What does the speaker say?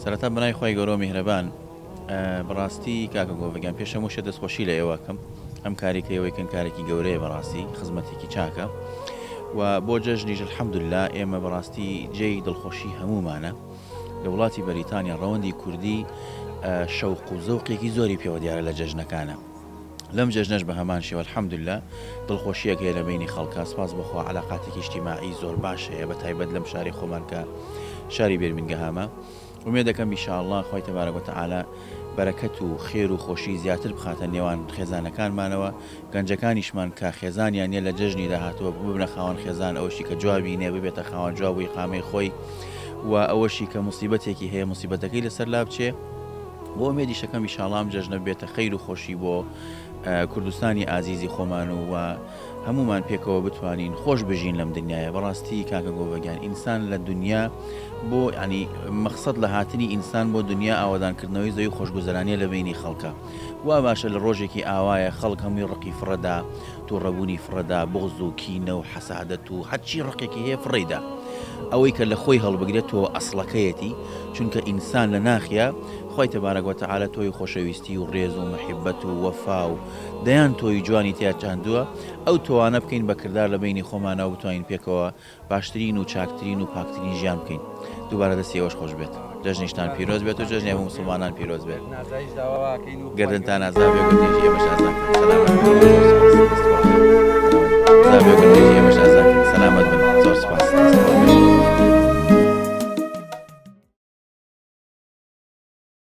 سەرەتا بەناوی خوای گەورەو میهرەبان بەڕاستی کاکە گۆڤە گیان پێش هەموو شتێ دەستخۆشی لە ئێوە ئەکەم ئەم کارەی کە ئێوەی کەن کارێکی گەورەیە بەڕاستی خزمەتێکی چاکە و بۆ جەژنیش الحەمدللا ئێمە بەڕاستی جێی دڵخۆشی هەموومانە لە وڵاتی بەریتانیا ڕەوەندی کوردی شەوق و زەوقێکی زۆری پێوە دیارە لە جەژنەکانە لەم جەژنەش بە هەمان شێوە الحمدللە دڵخۆشیەک هەیە لە بەینی خەڵکا سپاس بۆ خوا عەلاقاتێکی ئیجتیماعی زۆر باش هەیە بە تایبەت لەم شاری خۆمان کە شاری بێرمینگەهامە ئومێد دەکەم ان شاء اللە خوای تبارک وتعالی بەرەکەت و خێر و خۆشی زیاتر بخاتە نێوان خێزانەکانمانەوە گەنجەکانیشمان کە خێزانیان نیە لە جەژنی داهاتوە ببنە خاوەن خێزان ئەوشی کە جوابی نیە ببێتە خاوەن جواب و ئیقامەی خۆی و ئەوەشی کە موسیبەتێکی هەیە موسیبەتەکەی لەسەر لابچێ بۆ ئومێدی شەکەم ئیشاڵا ئەم جەژنە بێتە خەیر و خۆشی بۆ کوردستانی ئازیزی خۆمان و و هەمومان پێکەوە بتوانین خۆش بژین لەم دنیاە بەڕاستی کاکە گۆڤگیان ئینسان لە دنیا بۆ ینی مەخصد لە هاتنی ئینسان بۆ دنیا ئاوادانکردنەوەی زەوی خۆشگوزەرانە لە بینی خەڵکە وا باشە لە ڕۆژێکی ئاوایە خەڵک هەمووی ڕقی فڕەدا توڕەبوونی فڕەدا، بوغز و کینە و حەسادەت و هەرچی ڕقێکی هەیە فڕێیدا. ئەوەی کە لە خۆی هەڵبگرێت تۆ ئەسڵەکەیەتی، چونکە ئینسان لە ناخیا خوای تبارک و تعالی تۆوی خۆشەویستی و ڕێز و محبەت و وەفا و دەیان تۆوی جوانی تیا چاندووە، ئەو تۆوانە بکەین بە کردار لە بەینی خۆمانەوە بتوانین پێکەوە باشترین و چاکترین و پاکترین ژیان بکەین دووبارە دەستی ئێوەش خۆش بێت جەژنیشتان پیرۆز بێت و جەژنی هەموو موسڵمانان پیرۆز بێت گەردنتان ئازا بێ و گەردنی ئێمەش ئازا بن سەلامەت بن زۆر سوپاس ئازا بێ و گەردنی ئێمەش ئازا بن سەلامەت بن زۆر سوپاس دەستتان